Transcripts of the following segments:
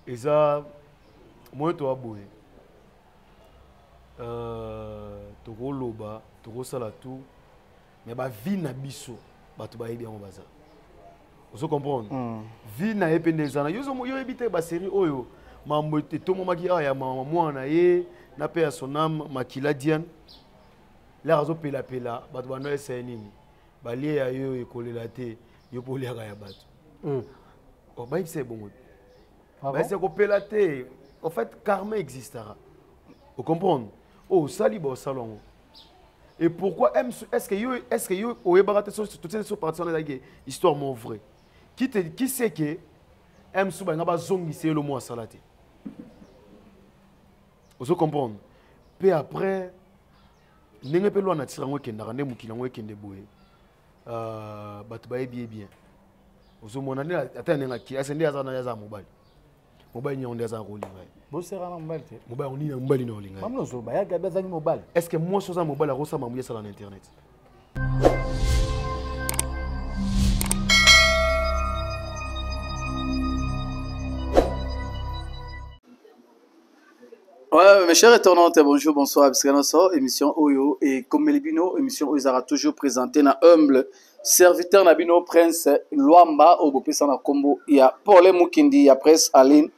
eza moyen toya boye euh, tokoloba tokosala tout mais bavie na biso bato bayebi yango baza ozo comprendre mm. vie na ye mpe nde eza na yo oyebi te baserie oyo mambo etomomaki awa ya mama mwana na ye na mpe ya sonam makila diane laka azopelapela bato banda esa ye nini balie ya yo ekolela te yo mpe oliaka ya bato hmm. oh, bayebisa ebongo ah bayebisa kopela te en fait karma existera ocomprendre oyo oh, osali baosala yango et pourquoi est ce que yo est ce que yo oyebaka te totieni so parti wana ezalaki histoire mo vrai qui te qui sait que msu balinga bazongisa ye lomo asala te ozo comprendre mpe après ndenge mpe lwana ntira yango ekendaka nde mokili yango ekende boye euh, bato bayebi ye bien ozomona nde ata ndenge ake ase nde aza na aza mobali mobali nyango nde azalaka kolinga ye bosera na mobali te mobali nini mobali na olinga mamna ozoloba ya gabi azangi mobali est ce que mwasi oza mobali akosala mamuya esala na internet Ouais, mes chers internautes, bonjour, bonsoir, parce que notre émission Oyo et comme Melibino, émission Oyo sera toujours présentée na humble serviteur na bino prince Luamba au bopesa na combo ya Paul Mukindi ya presse Aline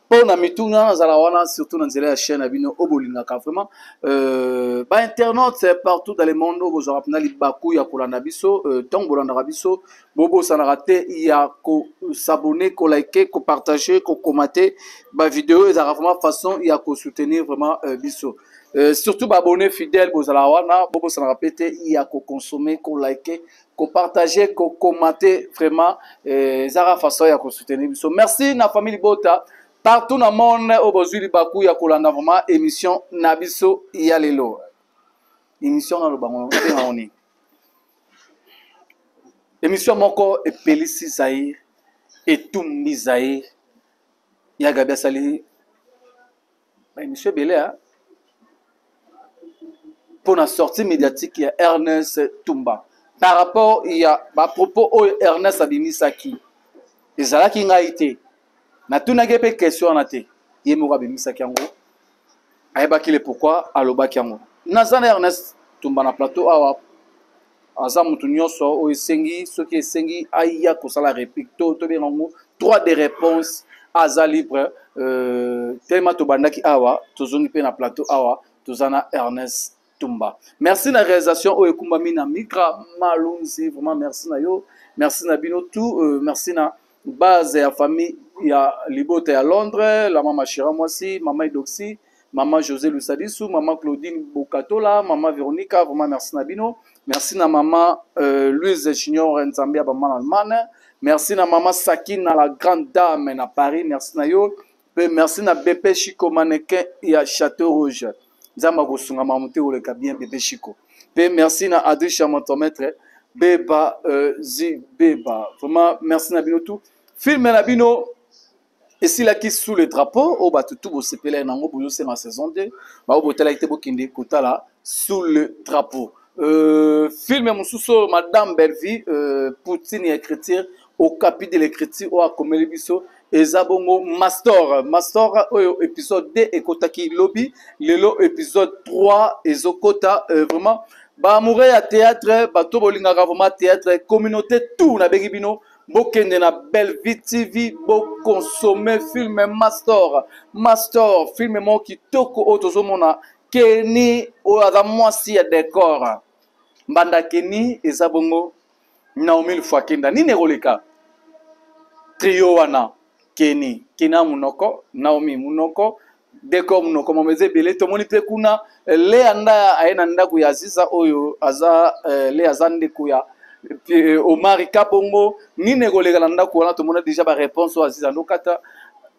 mpo na mituna nazala wana surtout na nzela ya chaîne na bino oyo bolingaka vraiment euh, bainternaute partout dans le monde oyo bozwaka mpena libaku ya kolanda biso ntango euh, bolandaka biso bobosanaka te ya kosabone kolike kopartage kokomate bavideo ezalaka vraiment façon ya kosoutenir vraiment euh, biso euh, surtout baabonne fidèle bozalaka wana bobosanaka mpe te ya kokonsome kolike kopartage kokomate vraiment euh, ezalaka euh, façon ya kosoutenir biso merci na famille libota partout na monde oyo bozwi libaku ya kolanda vraiment émission na biso ya lelo émission nalobango ndenga oni emission moko epelisi zaire etumbi zaire ya gabi asali baemission ebele mpo na sortie médiatique ya ernest tumba par rapport ya bapropos oyo ernest abimisaki ezalaki ngai te natunaki ye mpe question wana te ye moko abimisaki yango ayebaki le pourkui alobaki yango naza na ernest tumba na plateau awa aza motu nyonso oyo esengi soki esengi aya kosala réplique to tobenga yango droit de réponse aza libre euh, telema tobandaki awa tozongi mpe na plateau awa toza na ernest tumba merci na realisation oyo ekumbami na mika malunzi vraiment merci na yo merci na bino tout euh, merci na base ya famille ya libota ya londres la mama shira mwasi mama idoxi mama josé lusadisu mama claudine bokatola mama veronica vraiment merci na bino merci na mama euh, louise junior nzambe ya bamana allemagne merci na mama sakina la grande dame na paris merci na yo Pe merci na BP Chico mannequin ya Chateau Rouge. Nzambe akosunga mamu te oleka bien BP Chico. Pe merci na Adrisha Montomètre Beba euh, Zi Beba. Vraiment merci na bino tout. Film na bino esilaki sous le drapeau oyo bato tu bosepela nango bozosenga saison 2 baoyo botalaki te bokende kotala sous le drapeau euh, filme mosusu oyo madame bellevie euh, poutine ya écriture okapi de l'écriture oyo akomeli biso eza bongo mastor mastor oyo episode 2 ekotaki lobi lelo episode 3 ezokota euh, vraiment baamoure ya théâtre bato bolingaka vraiment théâtre communauté tout nabengi bino bokende na bellevie tv bokonsome filme mastor mastor filme moko kitoko oyo tozomona keni oyo aza mwasi ya decor mbanda keni eza bongo naomi lufuakenda nini ekoleka trio wana keni kena munoko naomi munoko deko munoko mama eza ebele tomoni mpe kuna eh, lea ndaya aye na ndako ya aziza oyo aza eh, lea aza ndeko ya eh, omari kabongo nini ekoleka na ndako wana tomona deja bareponse oyo aziza ndokata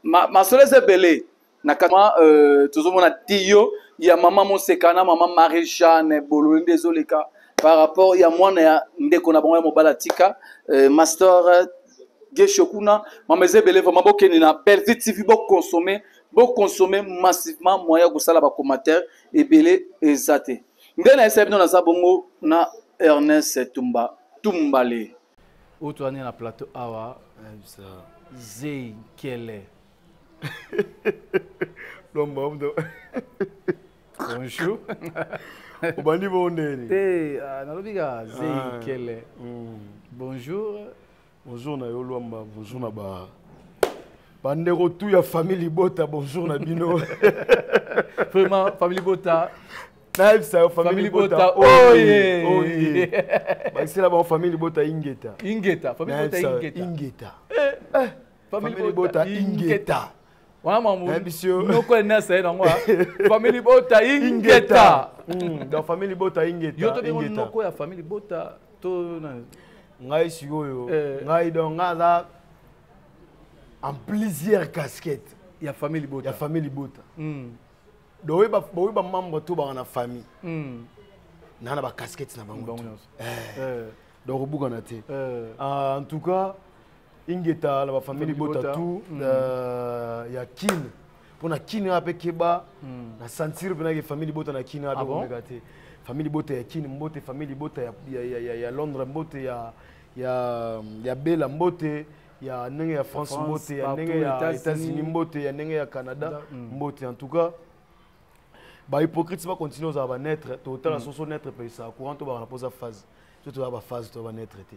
masolo eza ebele na kama euh, tozomona tiyo ya mama moseka na mama marie jeanne bolole nde ezoleka par rapport ya mwana ya ndeko na bango ya mobali atika euh, master gesho kuna mama eza ebele vraimen bokende na bellevue tv boconsomme boconsomme massivement moyen ya kosala bacommentaire ebele eza te nde na esaya bino naza bongo na ernest tumba tumbale oyo toyani na plateau awa zei nkele lomba mdo bonjour obandi bongo ndeni te ah, nalobi kaka zei ah, kele hmm. bonjour bonjour na yo lwamba bonjour na ba bandeko tu ya famille libota bonjour na bino vraiment famille libota nayebisa yo famille libota oye oye bakisela bango famille libota ingeta ingeta famille libota ingeta ingeta eh, eh. famille bota ingeta wana mamonoko enasa ye nango famille bota ingeta hmm, donc famille libota ingeta yo tobengo noko ya famille libota to ngai sikoyo eh. ngai donc ngai aza en plusieurs casquettes ya famille libota ya famille libota hmm. donc baoyo bamembre to banga na famille hmm. naa na bacasquettes na bango eh. eh. donc obukana te ah, en tout cas ingeta na bafamili libota tu hmm. euh, ya kin mpo na kin wana mpe keba hmm. na sentire mpenaki famille libota na kin wana mpe ah komeka te famille libota ya kin mbote famille libota ya, ya, ya, ya, ya londres mbote ya, ya, ya bela mbote ya ndenge ya france mbote ya ndenge ya états-unis mbote ya ndenge ya canada hmm. mbote en tout cas bahypocrite bacontinue ozala banetre totala soso netre mpe esala courant tobaka na mpoza phase so tozala baphase toya banetre te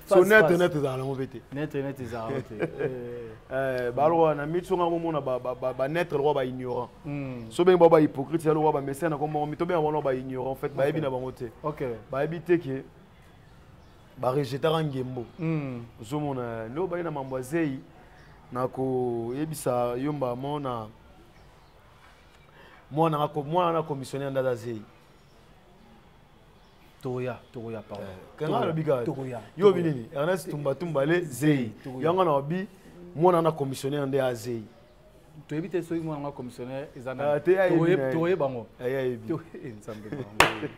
so net net ezalaka nango mpe te net net ezalaka mpe te eh, eh, balokola na miti songa komona banetre lokola baignorant hmm. so bengi bao bahypocrite ya lokola bamesene na komoko mito benga bango baignorant fait bayebi na bango te bayebi te ke barejetaka ngembo hmm. ozomona nde obai na mambo ya zei na koyebisa yo mbamo na mwana na commissionnaire nde aza zei tokoya tokoya pardon eh, kanga alobi kaka tokoya yo bi nini Ernest Tumba Tumba le Zei yango na obi mwana na commissionnaire nde azei toyebi te soki mwana nga commissionnaire eza na ah, tokoye bango ayebi eh, nzambe bango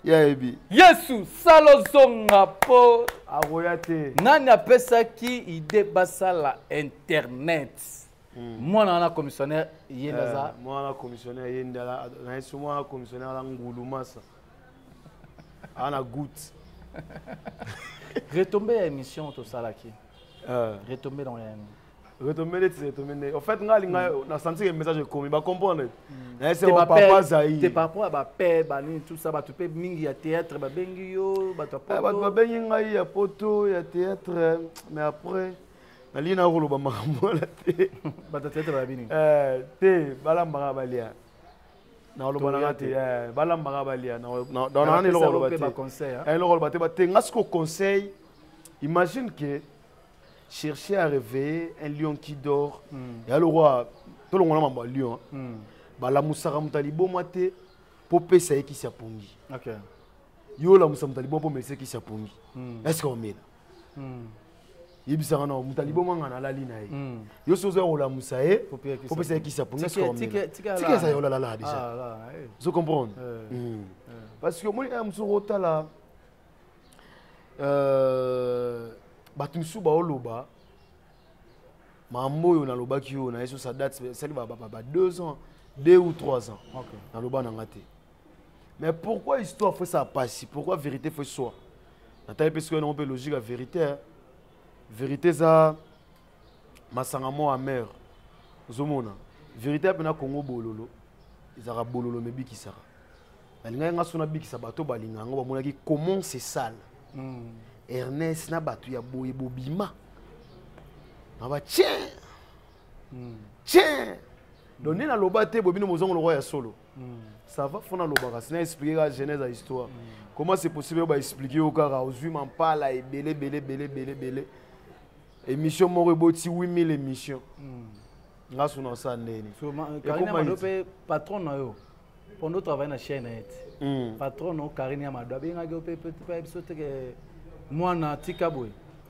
yayebi yesu sala ozonga mpo akoya te nani apesaki ide basala internet hmm. mwana wana commissionnaire ye nde eh, aza mwana commissionnaire ye nde na yesu mwana commissionnaire ala ngulu masa aza na gout retombe ya émission tosalaki euh. retombe nango ya yango retombe neti retombe nde en fait ngai alinga hmm. nasanti ke message ekomi bacomprendre hmm. nayese papa zai te par rapport ya bape banini tout ça bato mpe mingi ya théâtre babengi yo bato ya eh, bato babengi ngai ya poto ya théâtre mais après nalingi nako koloba makambo wana te bato ya théâtre babini eh, te balambaka balia nakoloba na nga te eh, balambaka balia naana eloko oloba te eh, eloko oloba te bate nga siko conseil imagine que chercher à réveiller un lion qui dort hmm. ya lokwa tolongola mambo ya lion hmm. balamusaka moto ya liboma te mpo pesa ye kisi ya pongi yo olamusa moto ya liboma mpo melisa kisi ya pongi hmm. eske omela hmm. yebisaka na moto aliboma nga nalali na ye hmm. yo soki ozoya kolamusa ye opesa ye kisa punatika eza yolalala déjà ah, eh. ozo comprendre eh. Hmm. Eh. parce que omoni aya mosusu okotala euh, bato mosusu baoloba mambo oyo nalobaki oyo na ye sosa date esali ba deux ans deux ou trois ans naloba na nga te mais pourquoi histoire faut ça passe pourquoi vérité faut soit natali mpe soki mpe logique ya vérité hein. vérité eza masanga mwa amer ozomona vérité mpena congo bololo ezalaka bololo mebikisaka nalingaki nga so nabikisa bato balinga yango bamonaki comment se sale hmm. ernest na bato ya boye bobima na batien hmm. tien donc nde naloba te bobino mozongo lokwa ya solo ça va fona lobaka sina expliquer ka genèse ya histoire comment c'est possible ba expliquer yo kaka ozwi mampala ebele ebele ebele ebele ebele émission moko eboti 8000 émission hmm. nga suna sa ndeni euh, patron na yo pondo travaille na chaîne ete hmm. patron no karine ya mado abengaki yo mpe mpe biso teke mwana tika boye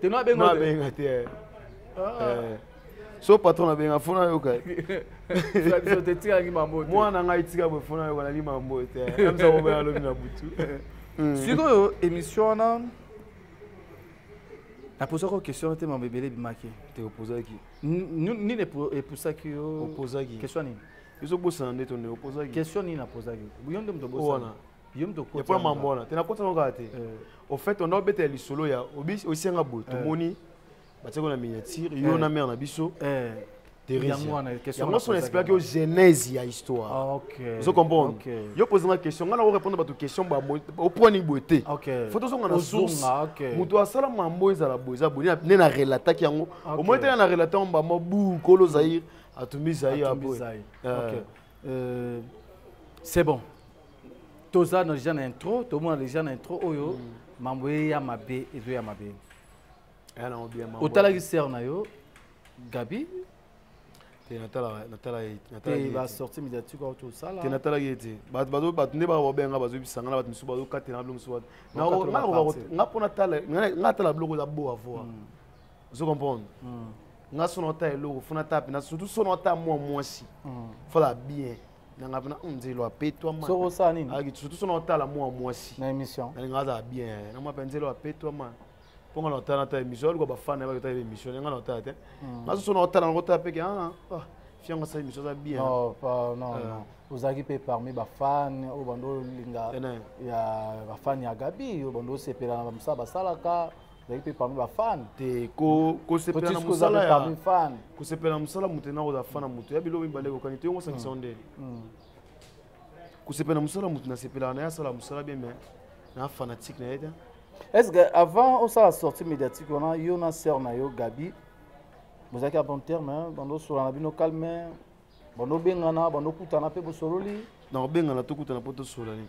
te no abenga no abenga te eh. ah. eh. so patron abenga fona yoka biso te tikaki mambo te mwana ngai tika boye fona yoka nali mambo te eh. amisa kobela alobi na butu hmm. sikoyo émission wana napozaki yo question te mambo ebele ebimaki te opozaki nini epusaki yo opozaki question nini ezobosana nde tone opozaki question nini napozaki yo nde moto obosana yomtokopona mambo wana te nakotana kaka te eh. au fait onda obetela lisolo ya osenga boye eh. tomoni batiako na miniature yo eh. na mare na biso yango so na explike yo genèse ya histoire ah, ozo comprendre yo posanga question ngai nako répondre bato question opwani boye te fo tozonga na source moto asala mambo ezala boye eza boye nde na relataki yango omoi tena na relate yango bamo bu kolo zaire atumbi zaire aboye c'est bon toza na deja na intro tomona deja na intro oyo mm. mambo ye ya mabe ezo ya mabe otalaki sere na yo gabi basorti médiatique oyo tosala natalaki ye te bato nde babenga bazoyebisanga na bato mosusu bazokatela na biloko mosusu nga mpo natala biloko eza bo avoir mm. ozo comprendre mm. nga sona ata eloko fo nata pena surtout sona ata mwa mwasi mm. fala bien nanga pena hmm, nzelo apetwa ma soko sa nini aki surtout sona otala mwa mwasi na emission na nanga za bien na mwa nzelo apetwa ma ponga na otala ta emission alikuwa bafana ba ta emission nanga na otala te hmm. nazo sona otala na otala peke ah ah fianga sa emission za bien non pas non euh. non ozalaki mpe parmi bafane oyo bando olinga ya bafane ya gabi oyo bando osepela na bamosala basalaka ezalaki mpe parmi bafan te kosepela na mosala ya kosepela na mosala moto ena kozala fan na moto ya biloko mibale ekokani te yongo osangisa nde kosepela na mosala moto nasepelaka na ye asala mosala bien mais na fanatique na ye te est ce que avant osala sortie médiatique wana yo na sœur na yo gabi bozalaki a bon terme bando osola na bino calme bando obengana bando okutana mpe bosololi na kobengana tokutana mpo tosolani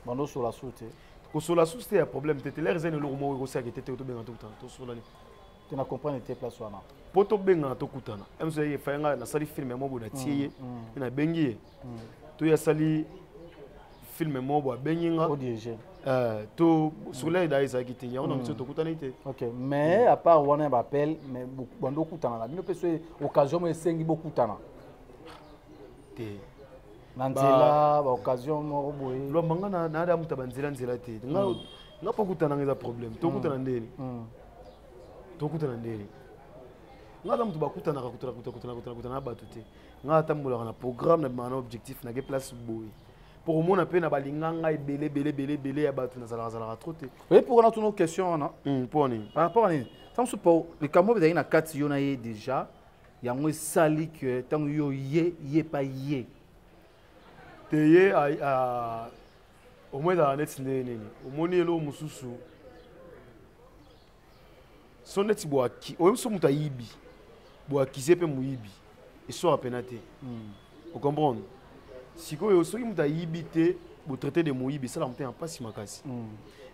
bando sola su te kosola su te ya problème te te lere eza na eloko moko ekosaki te te tobenga tokutana tosolani te na comprendre te place wana mpo tobengana tokutana mso ye efaye ngai nasali filme ya mobo natie ye mm, mm. mpe nabengi ye mm. to ye asali filme mobo abengi nga eh, to soleil da ezalaki te yango na biso tokutani te ok mais à part wana ya baappel mais bando okutana na bino mpe so occasion mo esengi bokutana te na nzela ba occasion moko boye lwamba nga na ada muta ba nzela nzela te nga mm. nga po kutana nga problème to kutana mm. ndeni mm. to kutana ndeni nga ata mutu bakutana ka kutana kutana kutana kutana kutana batu te nga ata mbola na programme na bana objectif na ke place boye pour mona pe na balinga nga ebele bele bele bele ya batu na zalaka zalaka trop te oui pour na tuno question wana pour ni par rapport ni tant que pour les camoufles d'ailleurs na 4 yo na ye déjà yango esali ke ntango yo ye ye pa ye te ye omoi ezala neti ndenge nini omoni eloo mosusu so neti boaki oyebi so moto ayibi boakize mpe moyibi eswaka mpena te hmm. ocomprendre sikoyo soki moto ayibi te botraite de moyibi esalaka mpe na mpasi makasi hmm.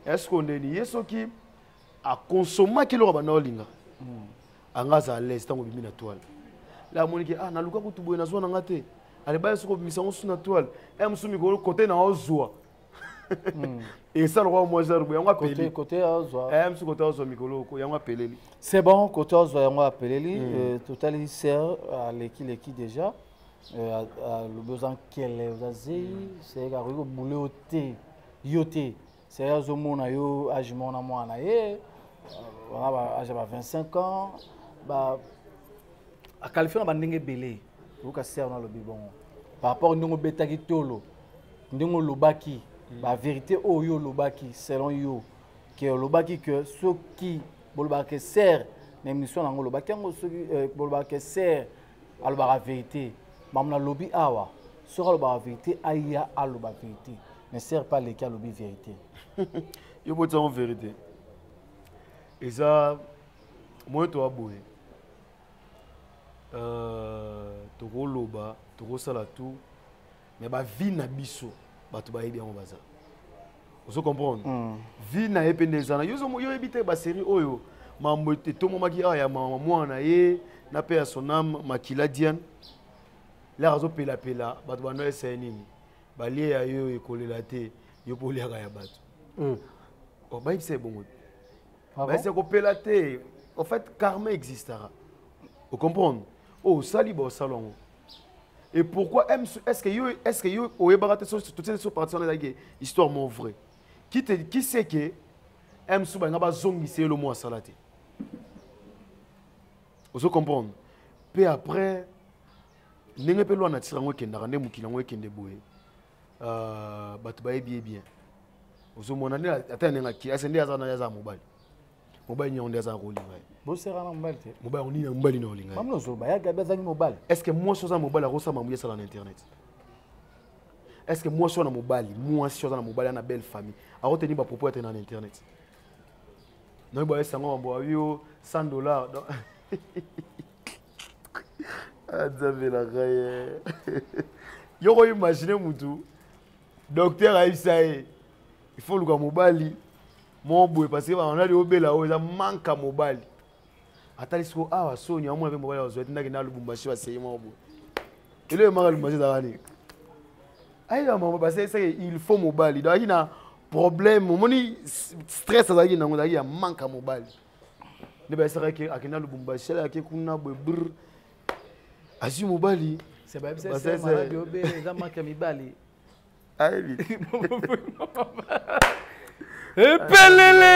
est ce que ndeni ye soki akonsomaki eloko abanda olinga hmm. anga aza alaise ntango obimi na toile la amoniki ah naluka kutu boye nazwa na nga te alebaya soki obimisa yango su na toile e eh, mosusu mikolo kote na ozwa hmm. esa lokola mwa genre boye yango apeleli eh, mosusu kote ozwa mikolo oko yango apeleli c'est bon kote ozwa yango apeleli hmm. euh, totali ser alekileki déjà euh, alobi oza nkele oza zei seyeke akoki kobule yo te yo te seri azomona yo age moko na mwana ye wana age ya ba 25 ans ba akalifio na bandenge ebele yoka ser na alobi bongo par rapport ndenge obetaki tolo ndenge olobaki hmm. baverité oyo yo olobaki selon yo ke olobaki ke soki bolobaka ke ser na émission na yango olobaki yango soki euh, bolobaka ke ser alobaka verité mamu nalobi awa soki alobaka verité aya aloba verité ne sert pas leki alobi verité yo botisa yango verité eza moyen toya boye euh, tokoloba tokosala tout mais ba vie na biso bato bayebi yango baza ozo comprendre mm. vie na ye mpe nde eza na yo oyebi te baserie oyo mambo etomomaki awa ya mama mwana na ye na mpe ya soname makila diane laka azopelapela bato bando eseye nini balie ya yo ekolela te yo mpe oliaka ya bato mm. oh, bayebisa ye bongo te ah bayebisa kopela te en fait karma existaka ocomprendre oyo oh, osali baosala yango et pourquoi est ce que yo est ce que yo oyebaka te so totie so parti wana ezalaki histoire mo vrai qui te qui sait que msu balinga bazongisa ye lomo asala te ozo comprendre mpe après ndenge mpe lwana tira yango ekendaka nde mokili yango ekende boye euh, bato bayebi ye bien ozomona nde ata ndenge akili ase nde aza na aza mobali mobali nyango nde azala kolinga ye boseka na mobali te mobali yango nini ya mobali na olinga ye mamnozoloba ya gabi azangi mobali est ce que mwasi oza mobali akosala mamuya esala na internet est ce que mwasi wana mobali mwasi aza na mobali ya na belle famille akoteni bapropos ya te na internet nayebi bayesa yango mambo ayo 100 dollar azabelaka ye yoko imagine mutu docteur ayebisa ye il faut oluka mobali moko boye parce que banadi obela oyo eza manka mobali atali siko awa ah, soni amona mpe mobali azwa tindaki na lubumbashi baseye moko boye elo emaka lubumbashi ezalaka nini ayeba mama baseseke il faut mobali donc azalaki na problème omoni stress azalaki nango ezalaki ya manka mobali nde bayesaka akenda lubumbashi alaki kuna boye brr azwi mobali epelele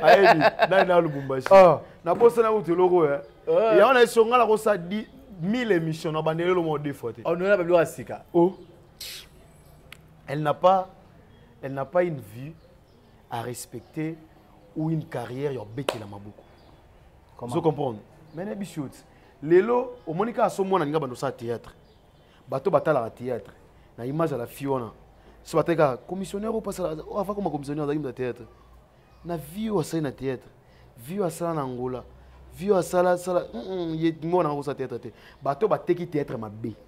ayebi nani na lubumbashi ah. nabosana kutu eloko ya eh. yango na esonga nakosa 1000 émission na bandeli eloko moko deux fois te onona oh, babiloko ya sika o oh. elle n'a pas elle n'a pas une vue à respecter ou une carrière ya obetela maboko ozo comprendre mais nayebi si oti lelo omoni kaka so mwana alinga bando osala théâtre bato batalaka théâtre na image ya la fille wana so batali kaka commissionnaire opasala oh, afa koma commissionnaire azalaki na théâtre na vie oyo asali na théâtre vie oyo asala na angola vie oyo asala sala mwana nanga kosala théâtre te bato bateki théâtre mabe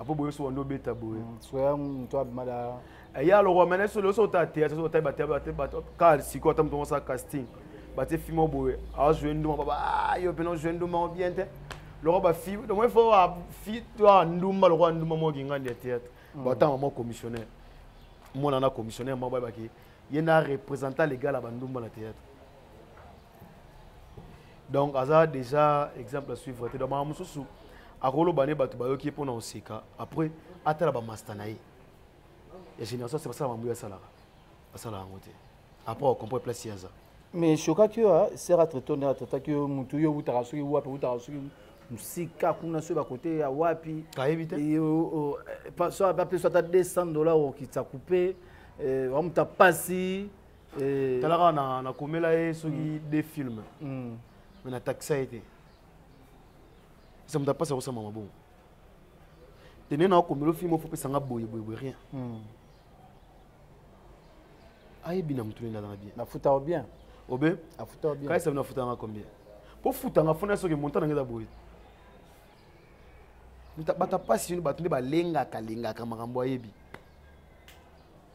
apo boye so wando beta boye mm, soya mtu abimada eh, ya lokwa mene so loso ta te so ta ba te ba te ba ka siko ata mtu ngosa casting ba te fimo boye a jouer nduma baba ah, yo peno jouer nduma bien te lokwa ba fi donc il faut a fi toi nduma lokwa nduma mo ki ngandi ya théâtre mm. ba ta mo commissionnaire mwana na commissionnaire mo ba ba ki ye na représentant légal ya ba nduma na théâtre donc aza déjà exemple à suivre te donc makambo mosusu akoloba ne bato bayoki ye mpo na koseka après atala bamasta na ye ya génération se basala mambo ye asalaka basala yango te après okomprendre place ye aza mais shokaki yo ah, sera traito nde atraitaki yo motu yo outaka soki wapi outaka soki mosika kuna soki bakote ya wapi ayebi te bapesa ata 200 dollar okitisa coupe wamuta pasi eh. tala kaka na, na komela ye soki mm. de film mm. me na taxa ye te eza moto apasi akosamba mabongo te nde nakomelo film ofo opesa nga boye boye boye rien mm. ayebi na motu nini azanga bien nafuta o bien obe afuta o bien kaisa bino afutanga combien mpo futanga fona soki montant nange eza boye bato ya mpasi yoni bato nde balengaka lengaka makambo ayebi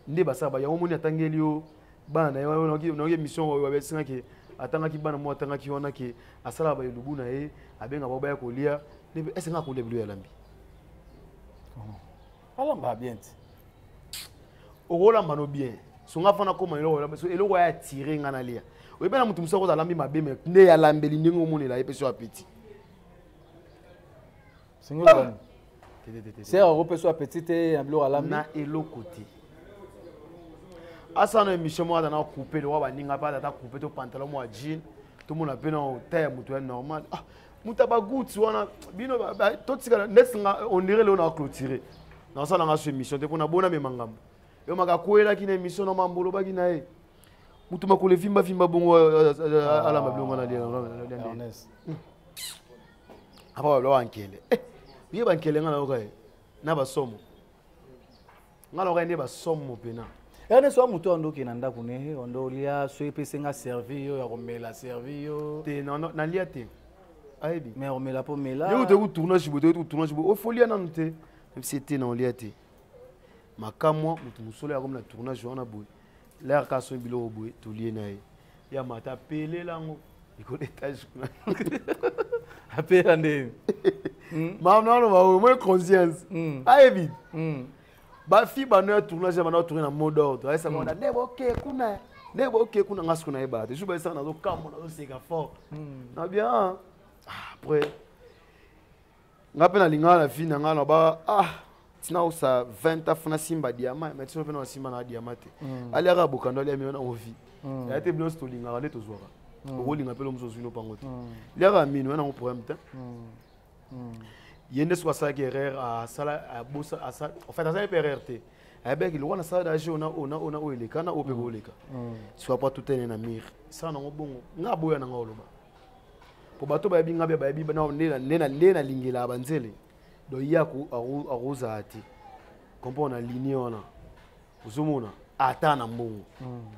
nde basala ba yango omoni atangeli yo bana na ye nayoki émission oyo babesinga ke atangaki bana moko atangaki wana ke asalaka baelubu na ye abenga bao baya kolia ese nga akolia bilo ya lambi alambaka bien te okolamba no bien songa fana koma eloko ya atire nga nalia oyebi na moto mosusu akoza alambi mabe me nde yalambeli ndenge omonela ye mpe so apeti singolo bani sere akopeswa petit te na biloko alambi na eloko te asana émission moko ata na coupe lokola baninga mpe ata coupe to pantalon mwa jean tomona mpe na ta ya moto ya normal ah, moto ya bagouti wana bino totikala neti nga ondire leo na clôture nasalanga so émission te mpo nabona mema ngambo yo makakwelaki na émission na mambo olobaki na ye moto makolo evimbavimba bongo alamba bilongo na apa baloa bankele ye bankele nga nayoka ye na basomo nga nayoka ye nde basomo mpena erne soa moto oyo ndoki na ndako ne ondo olia so epesi nga servi yo ya komela servi yo te nalia te ayebi mais omela mpo mela yo otoki tournage boye toki tournage boye ofolia nanu te mpe se te na olia te makamwa moto mosolo yakomi na tournage wana boye L'air ka soyi biloko boye tolie na ye. Ya mata pelela yango likolo etage kuna. Apela nde. Hmm? Maman nalo ba oyo moi conscience. Hmm. Ayebi. Hmm. Ba fi ba no ya tournage ba no tourner na mot d'ordre. Ayesa mona ne boke kuna. Ne boke kuna ngasu kuna ye ba. Te juba esa na zo kambo na zo seka fort. Na bien. Ah, après nga mpe nalingaka na vie na nga na ba ah tina osa 20 ans funa simba diama mais tino mpe na simba na diama te mm. aliaka bokando alia mio na ovi mm. ya te bino nyonso tolingaka nde tozwaka mm. okolinga mpe lomoso ozwi no mpango te liaka mino ya nango problème te ye nde soki asalaki erreur asala abosa asala en fait asala mpe erreur te ayebaki lokola nasala dage ona ona ona oyo eleka na oyo mpe booleka soki apwa tutene na mire sala nango bongo nga aboya na nga oloba mpo bato bayebi ngai mpe bayebi nde nalingelaka banzele donc ye akozala te comprendre na linie wana ozomona ata na mbongo hmm.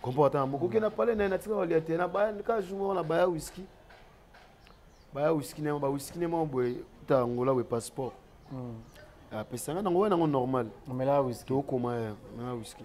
comprendre ata na mbongo okende na pale na ye natika balia te kaka jour moko na baya wiski baya wiski na bawiski na moko boye ta angola boye passeport hmm. apesanga nango wana yango normal tokoma ya na wiski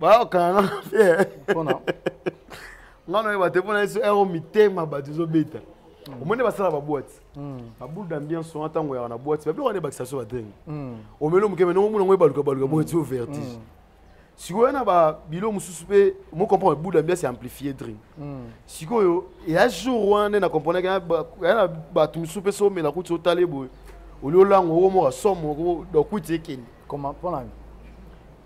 bayokana na fiere mpona nga noyeba te mpona yesu ero mitema bato ezobeta hmm. omoni basala babwati hmm. baboule d'ambiance wana ntango yaka na bwati babiloko wana ebakisa so badenge hmm. omeli moke me nongo monango ebaluka baluka bwati o vertige sikoyo na babilo mosusu mpe mocomprendre boule d'ambiance ya amplifie dream sikoyo ya jour wana nde na comprenaki ya na bato mosusu mpe so omela kuti otale boye oli olango okomoka somo donc kuti ekende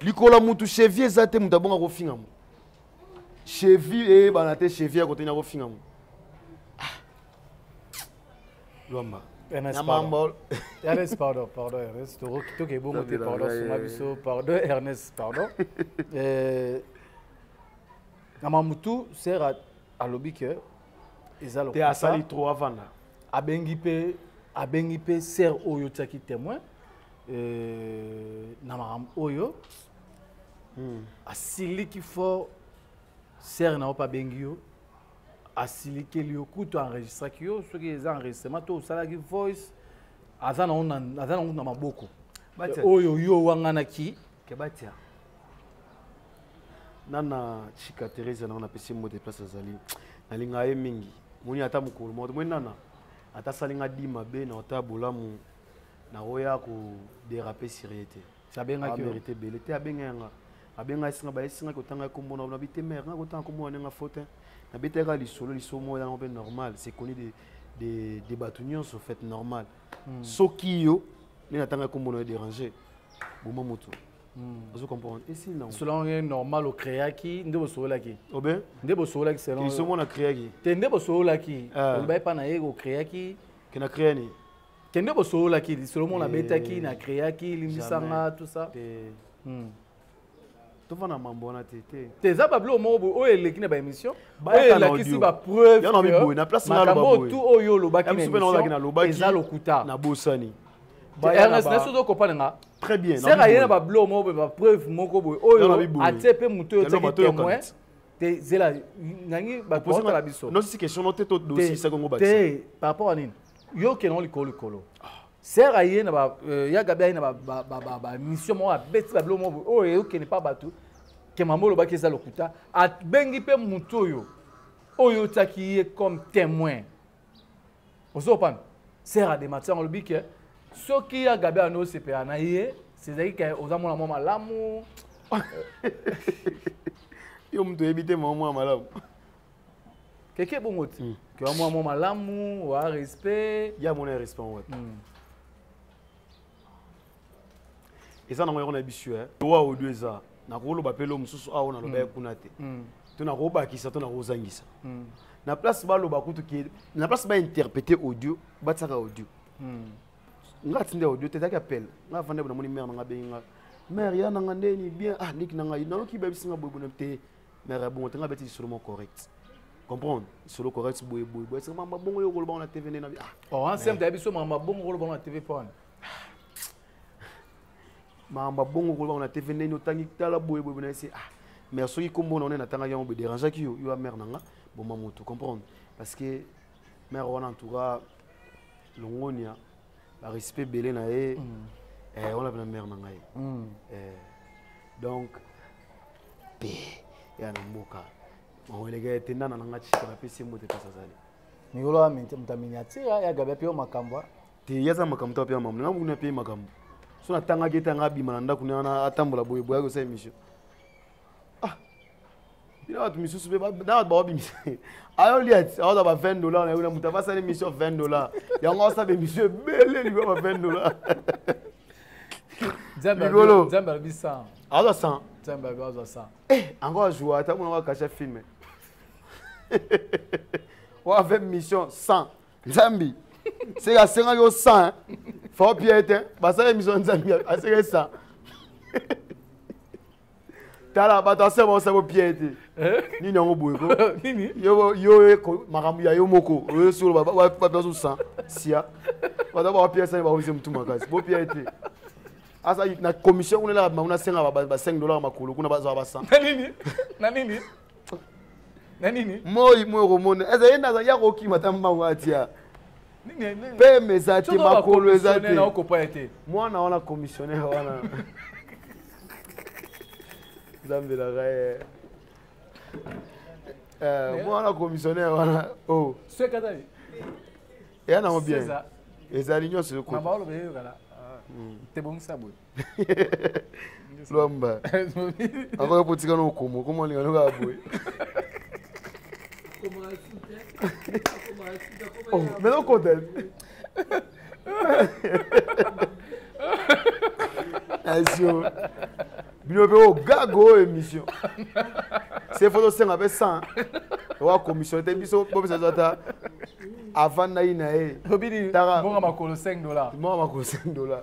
likolo ya mutu chevi eza te mutu abonga kofinga mu chevi eyebana eh, te chevi ya koteni akofinga mu ah. lwamba Ernest, pardon. Ernest, pardon, pardon, Ernest. Tout est bon, pardon, sur ma biso, pardon, Ernest, pardon. Euh, Namamutu sert à alobi que eza lokuta te asali trop avanda abengi pe abengi pe sœur oyo tiaki témoin euh, na makambo oyo hmm. asiliki fort sœur na yo mpe abengi yo asilikeli yo kutu enregistraki yo soki eza enregistrement to osalaki voice aza nango na maboko oyo yo owanganaki nana chika teresa nango napesi mbo te place azali nalingaka ye mingi moni ata mokolo moko tomoni nana ata asali nga di mabe na ota bolamu nakoya koderape sur ye te abengakimerite ebele te abenga yanga abenga esinga baesinga kotanga nkombo na na bite mare nga kotanga nkombo na ndenge faute nabetaka lisolo lisolo moko yango mpe normal c'est connu de, de, de bato nyonso fait normal hmm. soki yo nde natanga nkombo na yo déranger boma moto Hmm. ozo comprendre esi nango solonge normal ocreaki nde bosololaki obe nde bosololaki selonsomo na creaki te nde bosololaki ah. olobaki mpa na ye ocreaki ke na crea nini te nde bosololaki lisolo moko nabetaki eh. na creaki limbisanga tout ça hmm. tofanda mambo wana te te te eza babiloko moko boye oyo eleki na baémission oyo elakisi bapreuve makambo oyo tu oyo olobaki na émission eza lokuta nabosani ernest na sozo kopana nga très bien sere aye na bablo moko boye bapreuve moko boye oyo atie mpe moto oyo otiaki témoin te zela nangi bato baotala biso nosi question no te todosisaki yango bakisa te par rapport à nini yo okende yango likolo likolo sere aye na ba euh, ya gabi aye na bamission moko abeti bablo moko boye oyo eyokende mpa bato kemambo olobaki eza lokuta abengi mpe moto oyo oyo otiaki ye comme témoin ozopana sera de matisa yango alobi ke soki ya gabi wana osepela na ye sezalaki ke oza mwana mwa malamu yo moto oyebi te mwa mwa malamu keke bongo ti hmm. ke wa mwa mwa malamu wa respect ya mona ya respect yango wapi hmm. eza nango yango na biso eh. wa audio eza nakoloba mpe lo mosusu awa nalobaki mm. kuna te mm. to nakobakisa to nakozangisa mm. na place baloba kutu ke na place bainterprete audio batiaka audio nga atindi audio te ezalaki appel nga avanda bo namoni mare na nga bengi nga mare ya na nga ndeni bien ah liki na ngai nayoki bayebisi nga boyebona te mare ya bongo te nga beti lisolo mo correct comprendre solo correct boye boye boye sema mabongo yo koloba na TV nena ah oh ensemble ya biso mabongo koloba na TV pona makambo abongo kolobaka na tv ndenge otangi tala boye boye na se ah mais soki nkombo na one natangaki yango boye dérangeaki yo yo ya mare na nga boma motu comprendre parce que mare wana en tout cas longonia barespect ebele na ye mm. eh, wana mpena mare na ngai mm. eh, donc pe ya na mboka maoleka ete ndana na nga cika napesi ye mbote mpasi azali mikolo ya mtaminiatira ya gabi apeyo makambo te ye aza makambo to apema mambo nanga bokuna apeye makambo so natangaki ete anga abima na ndako nana atambola boye boyaki osala émission ah bino bato misusu mpe na bato baobimisa ayoli ati aoza ba 20 dollar na yona moto abasala émission 20 dollar yango asala émission ebele likolo ba 20 dollar likolo nzambe alobi 100 aza 100 nzambe alobi aza 100 eh ango ajoua ata mona wakasha filme wa 20 mission 100 nzambi seke asengaki yo 100 fao pie te basala émission nzambi aseke 100 tala bato asala baosala bopie te eh? nini yango boye ko yo makambo ya yo moko oyo solo bapiaso 100 sia bato bapiasani baoise motu makasi bopie te asa na commission kuna elaka bango nasenga ba 5 dollar makolo kuna bazwa ba 100 na nini na nini na nini moi moi okomona eza ye naza ya kokima ata mbango atia peme eza te makolo eza te mwana wana commissionnaire wana nzambelaka ye eh, mwana commissionnaire wana o oh. eya nango bien ezali nyonso ekotebongisa boye lwamba akoya potika na okomo okomo alinga noka ya boye mena okota asio bino mpe ogago oyo émission se fo tosenga mpe 100 owa commission te biso bopesa biso ata avandaki na ye tobinibonga makolo 5 dollar bonga makolo 5 dollar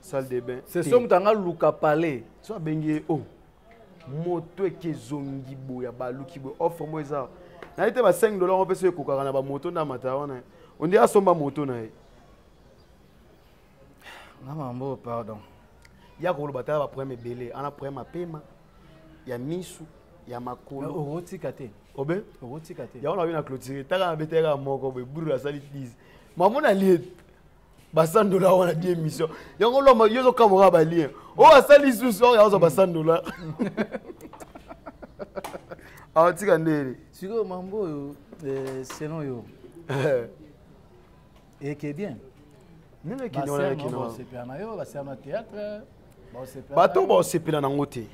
salle de bain c'est somme tanga luka palais so abengi oh moto eke ezongi boya baluki boye offre mo eza naye te ba 5 dollar ope so ekokaka na bamoto nde amata wana ondi asomba moto na ye na mambo pardon ya koloba tala baproblème ebele ana problème apema ya misu ya makolo okotika te obe okotika te yango nabi na clôture taka na betaka moko boye buru asali 10 mamona liete ba 100 dollars wana di émission yango loma yo ozokamwaka balien oyo oh, asali susu oyo akozwa ba 100 dollars aotika ndele sikoyo mambo oyo eh, selon yo eh. eke bien nini ekinoosepela na yo basala na théâtre bato baosepela nango te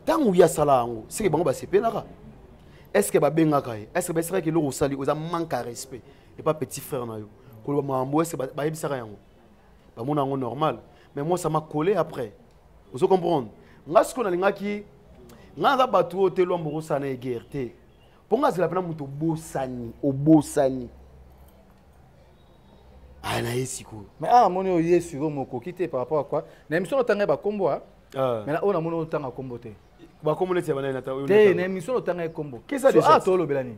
ntango eh. ye asala yango seke bango basepelaka est ce que babengaka ye est ce que bayesekaki eloko osali oza manque ya respect epa petit frère na yo koloba makambo ese bayebisaka yango bamona yango normal mais moi ça m'a collé après ozo comprendre nga sikoyo nalingaki nga naza bato oyo te lwambo kosala na egere te mpo nga azela mpena moto obosani obosani aya na ye sikoyo mais awa amoni oyo ye sikoyo mokoki te par rapport à quoi na émission otanga ye bakombo a ah. mais na oyo namoni otanga kombo te bakombo neti ya banani te na émission otanga ye kombo awa tolobela nini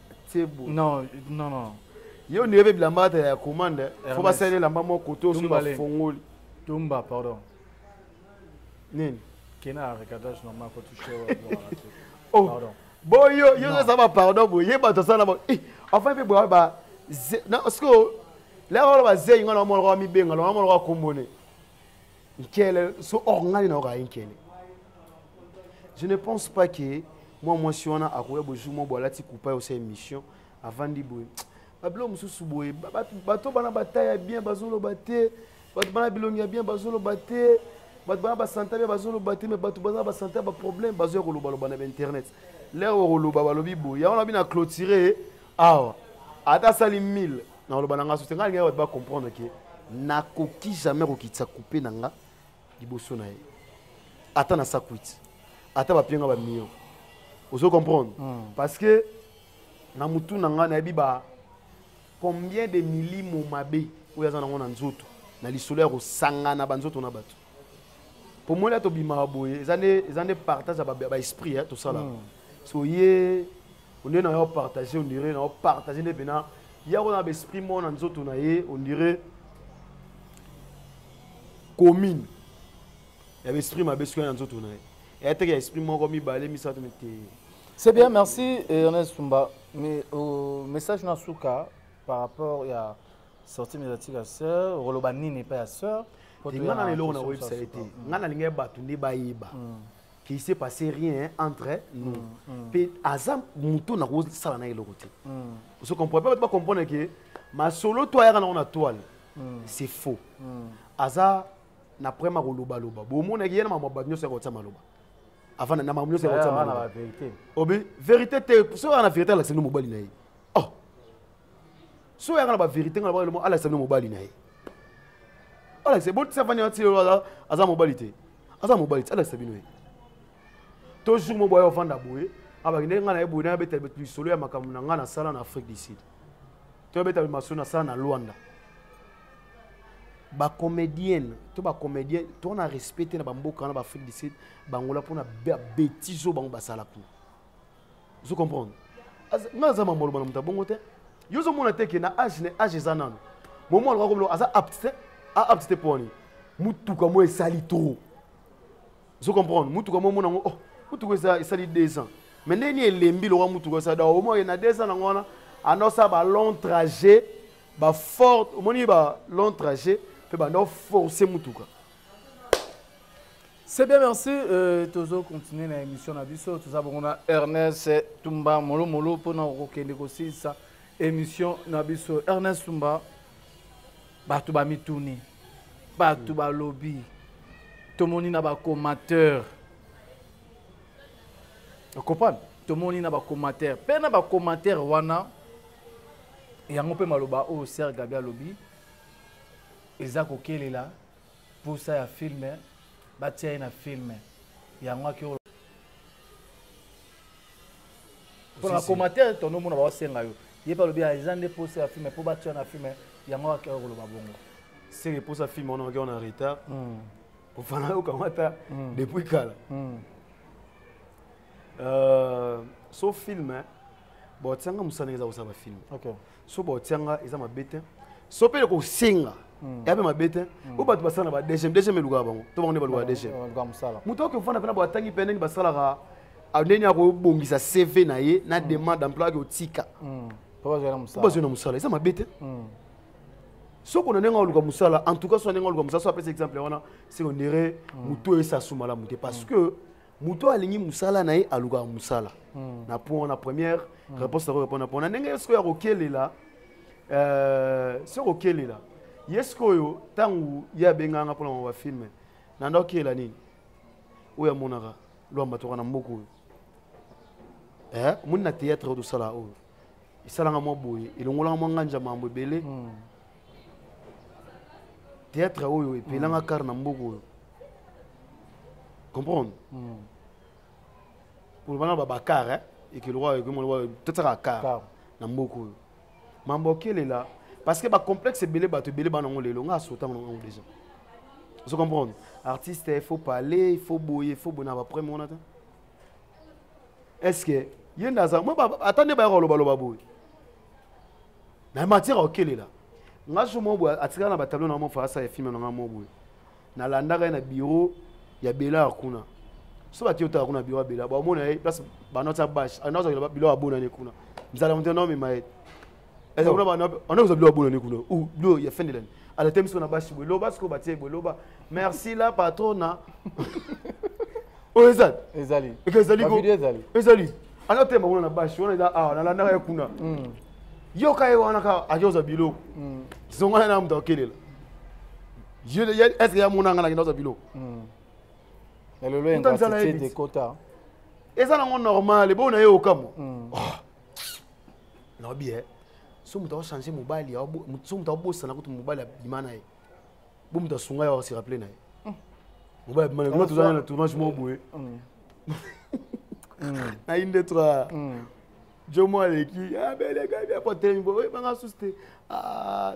tsebo non non non yo ni ebe bilamba ata ya commande faut ba sele lamba moko to so ba fongoli tumba pardon nini kena recadage normal ko toucher oh pardon bo yo yo ça va pardon bo ye ba to sala ba eh, enfin pe ba ba na sko la ba ba zeyi ngana mo lo mi benga lo mo lo kombone nkele so or ngai nayoka ye nkele je ne pense pas que mwa mwasi wana akoya bojour mwa bo alati kupa osa émission avandi boye babilo mosusu boye bato bana bataya bien bazoloba te bato bana bilongi ya bien bazoloba te bato bana basanta bien bazoloba te me bato baza basanta ya baproblème bazoya kolobaloba na bainternet lere okoloba balobi boye yango nabi na clôture awa ata asali 1000 nakoloba na nga sote ngai lingai bato bacomprendre ke nakoki jamais kokitisa coupe na nga liboso na ye ata na sakwiti ata bapie nga bamillion ozo comprendre mm. parce que na motu na nga nayebi ba combien de milimo mabe oyo aza nango na nzoto na lisolo ya kosangana banzoto na bato mpo mona tobimaka boye eza nde partage ya baesprit eh, tosala hmm. so ye onde na yo partage ondire na yo partage nde mpena ye akona baesprit moko na nzoto na ye ondire commune ya baesprit mabe soki ya nzoto na ye eya teke ya esprit moko mibale misato mite c'est bien merci ernest sumba mais euh, message na suka par rapport ya sortie médiatique ya sœur okoloba nini epai ya sœur nga na lelo na oyebisa ye te mm. nga nalinga ye bato nde bayeba mm. qu'il s'est passé rien entre nous mm, mpe aza moto nakosala na eloko te ozo comprendre mpe bato bacomprendre ke masolo to ayaka nango na toile c'est faux aza na preme akolobaloba bomonaki ye na mamwa bato nyonso yakotia maloba avant na mamwa nyonso yakotia maloba obi verité te soki aa na verité alakisa nde mobali na ye so oyaka na baverité nga na alakisa bino mobali na ye alakisa botisa fani ati lelo aza mobali te aza mobali te alakisa bino ye to jour mo boya ofanda boye abaki ndenge nga na ye boye na abeta lisolo ya makambo na nga nasala na afrique du sud to abeta masolo nasala na luanda bacomédienne to bacomédien tona respect te na bamboka wana baafrique du sud bangola mpona betizo bango basala kuna ozo comprendre nga aza mamboloma na moto ya bongo te yo ozomona te ke na age na age eza nano momo alaka komona aza apte te aapte te mpo wani motuka mo esali trop ozo comprendre motuka mo omona yango oh motuka eza esali deux ans me ndenge nini elembi lokola motuka esali donc omo na deux ans nango wana andosa ba long trajet ba forte omoni ba long trajet mpe banda oforce motuka C'est bien, merci. Euh, tozo continuer na émission na biso. Toza bongo na Ernest Tumba Molo Molo pour na kokende kosilisa émission na biso. Ernest Tumba bato ba mituni, bato ba lobby. Tomoni na ba commateurs. Vous comprenez Tomoni na ba commateurs. Pe na ba commateurs wana yango pe maloba oyo Serge Gabi alobi eza kokelela posa ya filme batia ye na filme yango ake mpo na commentaire tono omona baosenga yo ye mpe alobi ah, eza nde posa ya filme mpo batia na filme yango ake koloba bongo seke posa filme wana ake wana retard hmm. kofana yo kamata hmm. depuis kala hmm. euh, so filme botianga mosala eza kosala bafilme so baotianga eza mabe te so mpe kosenga hmm. ya mpe mabe te hmm. o bato basala na badgm dgm elukaka bango to bango nde balukaka dgm moto okoki ofanda mpena batangi mpe ndenge basalaka ndenge akobongisa cv na ye na hmm. demande emploi ake otika po bazwi na mosala eza mabe te soko na ndenge aluka mosala en tout cas so na ndenge aluka mosala so apesa exemple wana se ondire motu oyo esasumala mote parce que moto oyo alingi mosala na ye alukaka mosala hmm. na point wana première hmm. réponse na korepondre mpo na ndenge ye sikoyo akokelela euh, soki okelela ye sikoyo ntango ye abengaka nga mpo na mwa bafilme na nda okelela nini oyo amonaka lwamba toka na mboka oyo eh, omoni na théâtre oyo tosala oyo esalanga mwa boye elongolanga mwa nganja mambo ebele hmm. théâtre oyo epelanga kar na mboka oyo comprendre hmm. koloba na babakar eh? ekelokwa ekemoloba totsaka kar na mboka oyo mambo okelela parce que bacomplexe ebele bato ebele bana yango lelo ngai asotanga na yango déjà ozo comprendre artiste il faut parler il faut boye il faut boye na bapreme wana te est ce que ye nde aza ata nde bayaka kolobaloba boye na matière okelela ngai so moko boye atikala na batablo na yango faasa ya filme na ngai moko boye nalandaka ye na bureau ya belare kuna so bati otaka kuna bureau ya belare bamona ye place bana otya bashe anda kozakela biloko abonani kuna nzala moto na omema ye eza kuna bana anda kozwa biloko abonani kuna u biloko ya fendelani alata miso na bashe boye loba sikoyo batie boye loba merci la patrona oyo ezali ezali eka ezali ko ezali anda otema kuna na bashe wana eza awa nalandaka ye kuna hmm. yoka ye wana ka akozwa biloko hmm. zongana na moto akelela Yeux de est-ce que ya mona ngana kenda za bilo. Hmm. Ya lelo en gratitude de kota. Eza nango normal, bo na ye okamo. Hmm. Ah. Na obi eh. So muta changer mobali, so muta bosana kutu mobali abima na ye. Bo muta sunga ya se rappeler na ye. Hmm. Mobali abima na ye, tozana na tournage mo boye. Na inde trois. Jomo aleki, ah beleka, bien pote, bo banga suste. Ah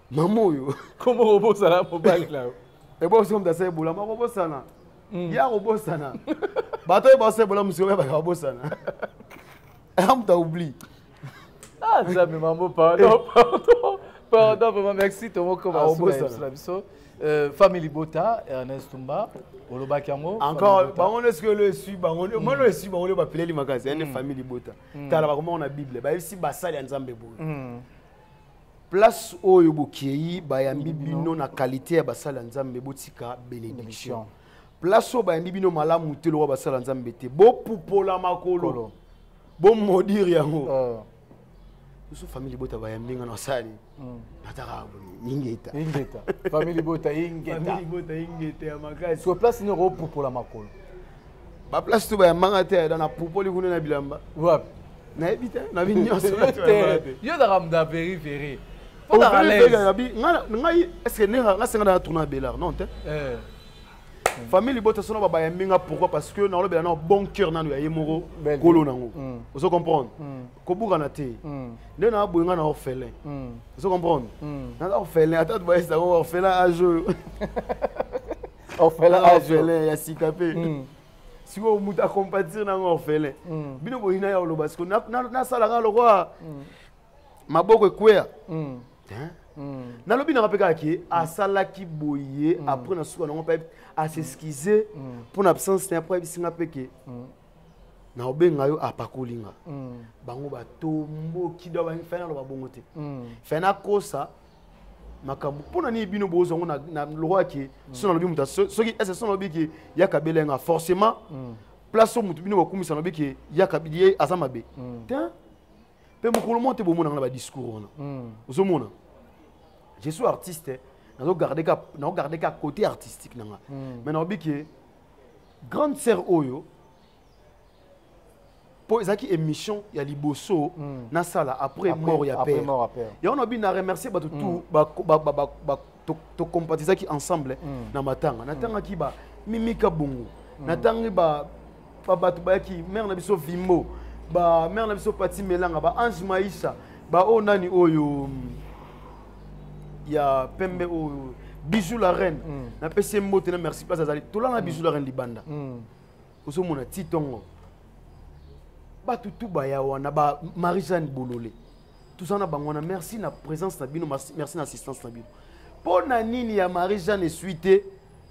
mama oyo kombo kobosana mobali na yo ebosomda sa ebola moko bosana ye akobosana bato oyo baosa ebola mosika oyo baka babosana aya moto aoublie ah, nzambe mambo pardon eh. pardon pardon vraiment merci tomokoma na biso Euh, famille libota ernest tumba olobaki yango encore bango nde soki olo esui bango mm. mwana esui bango nde bapeleli makasi ya nde mm. famille libota mm. tala bakomaka na bible bayebisi basali ya nzambe boye place oyo bokei bayambi bino na kalite ya basali ya nzambe botika benediction place oyo bayambi bino malamu te lokola basali ya nzambe te bopupola makolo bomodire yango oh. biso famille libota bayambi nga nasali hmm. nataka ingeta ingeta famille libota ingeta famille libota ingeta ya makasi so place ni okopupola makolo ba place to bayambanga te ayeda na pupoli kuna na bilamba wapi nayebi te nabi nyonso yo ozaka moto ya veri veri ngai estce ndenge nga senga na tourna belard non te eh. famille libota sono babayambi nga pourquoi parce que naolobela nao bon cœur nano ya ye moko kolo nango mm. ozo comprendre mm. kobukana te mm. nde naa boye nga na orphelin ozo comprendre naza orphelin ata bayesango orphelin age oyo orphelin ah, orphelin ya sika mpe hmm. sikoyo moto acompatir nango orphelin hmm. bino boyina ya oloba sikoyo nasalaka lokola hmm. maboko ekweya nalobi nanga mpe kaka ke asalaki boye apres na suka nango mpe aseskize mpo na absence na ye apres ayebisinga mpe ke na obenga yo apakoli nga bango batomboki do fai naloba bongo te fai nakosa makambo mpo na nini bino bozwa yango na lokola ke so nalobi moto soki ese so nalobi ke yaka bela yanga forcément mm. place oyo moto bino bakumisa nalobi ke yaka ye aza mabe mm. te mpe mokolo moko te bomona nga na badiscours wana mm. ozomona je suis artiste nazogarde ka côté artistique na nga mais nalobi ke grande sœur oyo mpo ezalaki émission ya liboso mm. nasala après mort ya père yango nabi na remercie bato tout mm. tocompatizaki ensemble mm. na matanga natangaki ba mimika bongo natangi bato bayaki mare na biso vimbo ba mare na biso pati melanga ba ange maisha baoyo oh, nani oyo ya pembe oyo bijou la reine napesi ye mbote na merci place azali tolanga bijou la reine libanda ozomona ti ntongo bato tu baya wana ba marie jeanne bolole toza na bango wana merci na présence na bino merci na assistance na bino mpo na nini ya marie jeanne esui te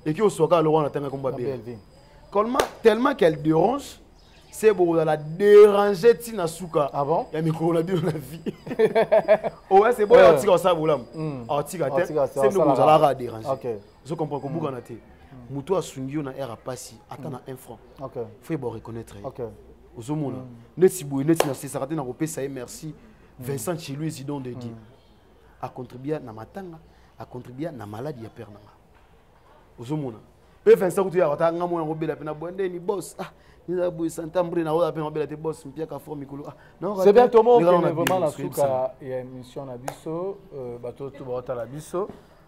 eki oswaka aloko wana atanga komba bebe tellement qu'elle dérange se bokozala dérange ntina suka ah bon? ya mikolo na bino na vie oya se boya atika osala bolamu atika te se nde bokozalaka dérange ozo comprendre kobukana te moto oyo asungi yo na aire ya mpasi ata na un franc fo yeba oreconnaitre ye ozomona neti boye neti nasesaka te na kopesa ye merci vincent chilui zidon de dieu acontribua na matanga acontribua na maladi ya père na nga ozomona mpe vincent kutu yaka ta nga mona kobela mpe na boya ndeni bos ah nizala boye santambre na oyo mpe nabela te bos mpiaka fort mikolo ah c'est bien tomookende vraiment na suka ya émission na biso euh, bato to baotala biso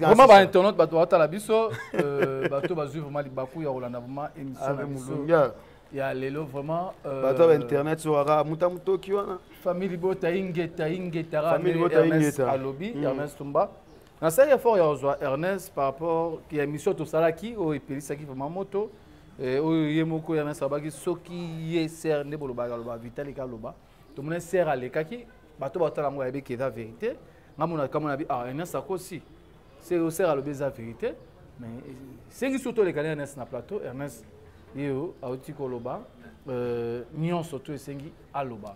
vraiment ba internaute bato batala biso euh, bato bazwi vraiment libaku ya kolanda vraiment émission na biso ya lelo vraiment euh, bato ya bainternet so aka muta motoki wana famille libota ingeta ingeta ernest alobi mm. ernest tumba nasali effort ya kozwa ernest par rapport ya émission tosalaki oyo epelisaki vraiment moto eh, oyo ye moko ernest alobaki soki ye ser nde bolobaka aloba vitali kaloba tomona ser alekaki bato batala yango yayebi ke eza verité nga mona kama na bi ah ernest akosi se oser alobi eza verité mais sengi surtout olekani ernest na plateau ernest ye oyo auti koloba euh, nyonso to esengi aloba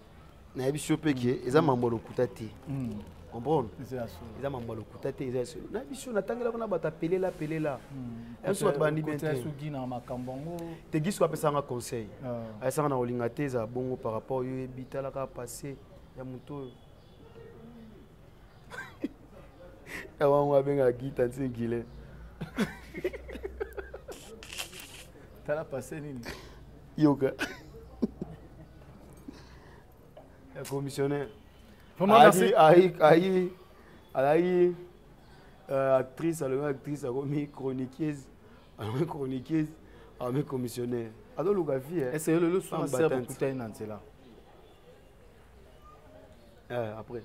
nayebi si yo mpe ke eza mambo ya lokuta te hmm. comprendre eza mambo ya lokuta te eza solo na biso natangelako na bato apelela pelela biso bato balandi bien te gisko apesanga conseil ayesanga na kolinga te eza bongo par rapport yo yebi talaka passé ya moto oyo ya wango abengaka gita nti gile tala passé nini yoka eh, commissionnaire ayi ayi ayi ayi euh, actrice alobi actrice akomi chroniqueuse alobi chroniqueuse alobi commissionnaire azoluka vie eh. ese yo lelo suma sere bokutani na nzela eh, après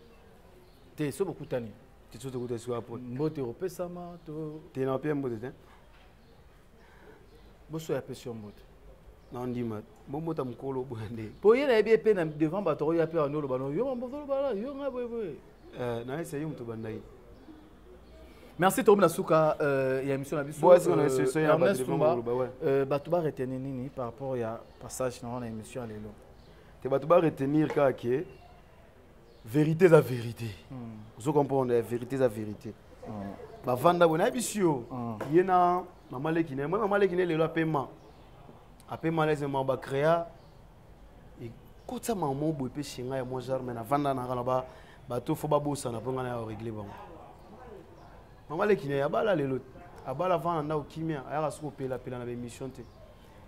te so bokutani te so tokutani sikoyo après mbote opesama to te na mpe mbote te boso ya pesi yo mbote nandima bombota mokolo boya nde mpo ye nayebi epe na devant bato oyo ape wanda oloba no yo mambozoloba la yo ngai boyeboye eh, nayesa yo moto bandai merci tokomi na suka euh, ya émission na bisoernestumba euh, euh, bato baretenir nini par rapport ya passage na wana émission ya lelo te bato baretenir kaka ke verité eza verité hmm. ozo comprendre ya verité eza verité hmm. bavanda boye nayebisi yo hmm. ye na mama leki na ye moi mama leki na ye lelo apema apema lese ma bacrea ekotisa mama boye mpe shinga ya mwa jarme navanda nanga na bato fo babosana mpo ngai na ya oregle bango mama leki na ye abala lelo abala vanda ndako kimia ayaka soki opelapela na baémission te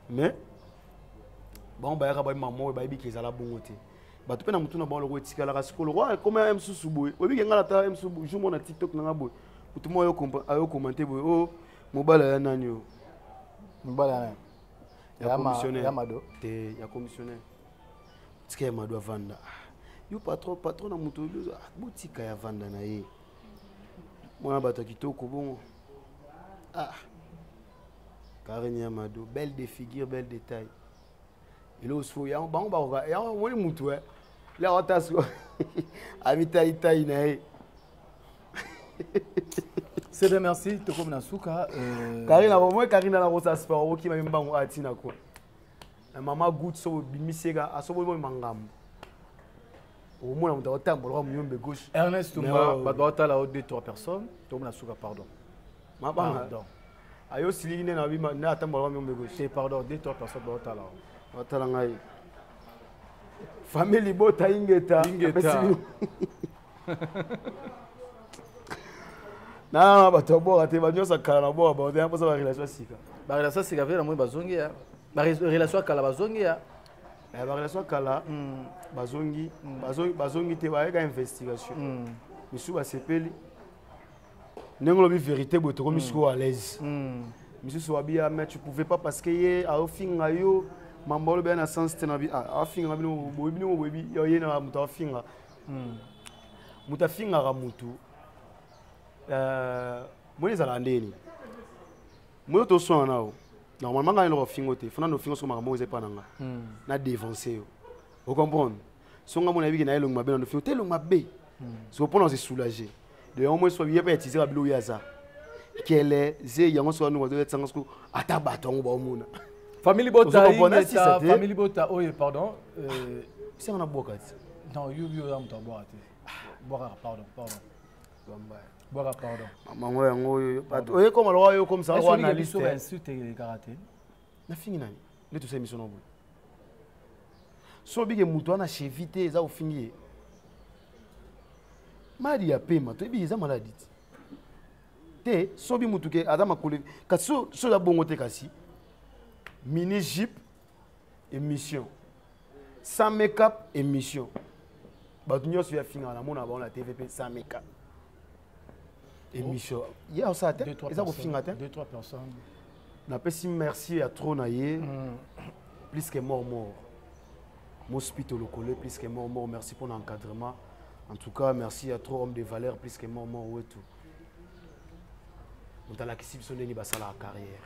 mais bango bayaka babi mama oyo bayebi ke ezala bongo te bato mpe na motuna bango loko etikalaka sikoyo loko ekoma ya mosusu boye oyebike ngai natala mosusu jour moko na tiktok na ngai boye motu moko ayo komante boye o oh, mobala ya nani oyo mobala ya nani ya commissionnaire ya mado te ya commissionnaire tika ya mado avanda yo patron patron na moto ah, botika ya vanda na ye mwana bato ya kitoko bongo ah karine ya mado belle de figure belle de taille eloko sikoyo yango bango bakoka yango omoni motu e le awata sikoyo amitaitai na ye c'est bien merci tokomi na suka euh, karina omoi karina na kosa sport okokima ye mbango aya ntina kua na mama gout so obimisi yeka asoboyi boyi mangambo okomona moto akotambola kwa moyombe gauche ernest tumba bato baotala o deux trois personnes tokomi na suka pardon mabanga ayo siliki nde nabima nde atambola bami ombe gauche pardon de toi personne baotala batala ngai famille libota ingeta ingeta na bato ya boka te banyonso akala na boka baote mposa barelation ya sika barelation ya sika mpe namoni bazongi ya barelation ya kala bazongi ya eh, barelation ya kala hmm. bazongi hmm. bazongi te bayeka investigation hmm. misusu basepeli ndenge olobi verité boye tokomi hmm. sikoyo à l'aise hmm. misusu wabia mais tu pouvais pas parce que ye aofinga yo mambo olobi na sens te na bi ah, afinga bino boyebi bino boyebi ye na moto afinga hmm. moto afingaka motu euh, moni ezalaka nde nini moyo toswana nao normalement ngai eloko fingo te fona nofingo soko makambo oza epa na nga na devanse yo o comprendre so nga mona yebiki na ye elongi mabe na ndofi te elongi mabe hmm. so mpona ose soulage de yango moi soki yeba etize babilo oyo aza kele ze yango soki anongo azoya tsanga soko ata bato yango baomona famille bota ingeta famille bota oyo pardon euh, sanga na bwaka ti non yo yo ya moto abwaka te bwaka pardon pardon bwaka pardon mango yango oyo bato oye koma lokola yo okomisa yango analyste na fingi nani nde tosala émission na boye so obike moto wana chevi te eza ofingi ye maladi ya pema toyebi eza maladi ti te sobi motu ke aza makolo kasi so eza bongo te kasi mini jipe émission sans make-up émission bato nyonso ya finga namona bango na tv mpe sans make-up émission ye osala te eza kofinga te napesi merci ya trop na ye mm. plus que mort mort mospito lokole plus que mort mort merci mpo na encadrement en tout cas merci ya trop homme de valeur plus que mort mort wetu moto alakisi biso ndenge basalaka carrière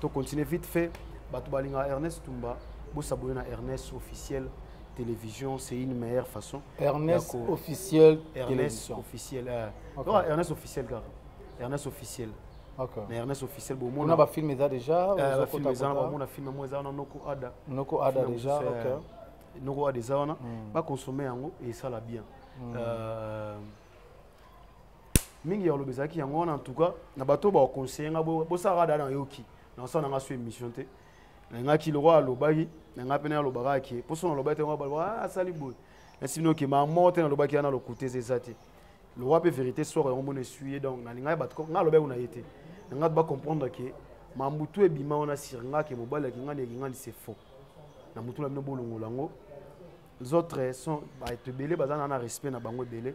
to continuer vite fait bato balingaka ernest tumba bosabone na ernest officiel télévision c'est une meilleure façon ernest officiel ernest officiel euh, okay. non, ernest officiel kaka ernest officiel okay. na ernest officiel bomona bafilm eza déjà euh, bafilm eza na bamona film yango eza wana noko ada noko ada déjà okay. Euh, noko ada eza wana mm. baconsomme yango esala bien mm. euh, mingi ya koloba ezalaki yango wana en tout cas na bato baoconseille nga bosalaka dada nayoki naosala na nga so émission te nangaki lokola alobaki na ngai mpe nayalobaka ke mposo nalobaki te ngo baloba ah, asali boye nasi bino ke mamo te nalobaki yana lokuta eza eza te lokola mpe vérité soko yango mona esui ye donc nalingaki bato ngai alobaki kuna ye te na ngai bacomprendre ke mambutu ebima wana sur ngai ke mobali akingani ekingani se faux na motu na bino bolongola yango les autres sont bato ebele baza na na respect na bango ebele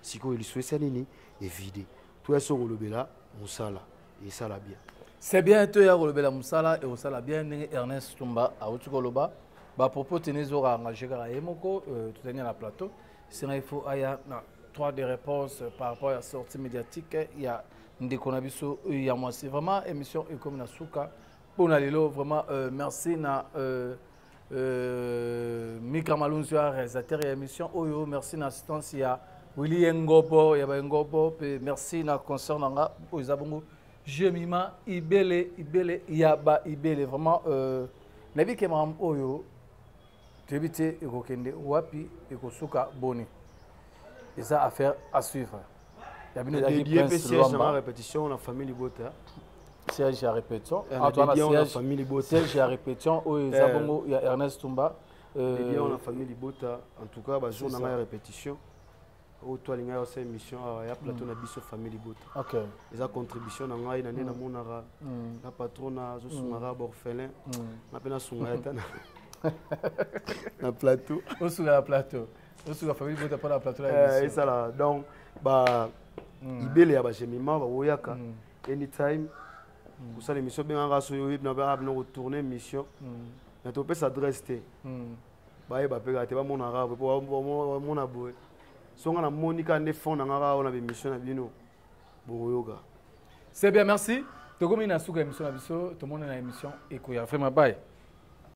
sikoyo lisuesa nini evide toya so kolobela mosala esala bien c'est bien toya kolobela mosala ekosala bien ndenge ernest tumba awuti koloba bapropos tene ezoka engage kaka ye moko euh, totani na plateau senga ifo aya na trois de réponse euh, par rapport ya sortie médiatique ya ndeko na biso euh, ya mwasi vraiment émission ekomi na suka mpo na lelo vraiment merci na Euh, Mika Malunzu ya réalisateur ya émission oyo merci na assistance ya Willy Yengobo ya ba Yengobo pe merci na concert na nga oyo eza bongo Jemima Ibele Ibele ya ba Ibele vraiment euh, nayebi ke makambo oyo toyebi te ekokende wapi ekosuka boni eza affaire à suivre ya bino ezalaki prince luamba répétition na famille libota siège ya répétition ato wana siège ya répétition oyo eza eh. bongo ya ernest tumba euh, on a famille libota en tout cas bajour na ngai ya répétition oyo to alingai osa émission awa ya plateau na biso famille libota eza contribution na ngai na nde namonaka na patron nazosungaka baorphelin na mpe nasunga ya ta na plateau osunga na plateau osuka famille bota mpo na plateau eh, esala donc ba hmm. ibele ya bagemima baoyaka hmm. anytime hmm. kosala émission bengaka soki oyebi na baa bino kotourne émission na topesa adresse te bayeba mpe kaka te bamonaka boye mpo bamona boye so nga namoni kaka nde fond na nga kaka oyo na bémission na bino bokoyoka c'est bien merci tokomi na suka émission na biso tomoni na émission ekoya vraiment baye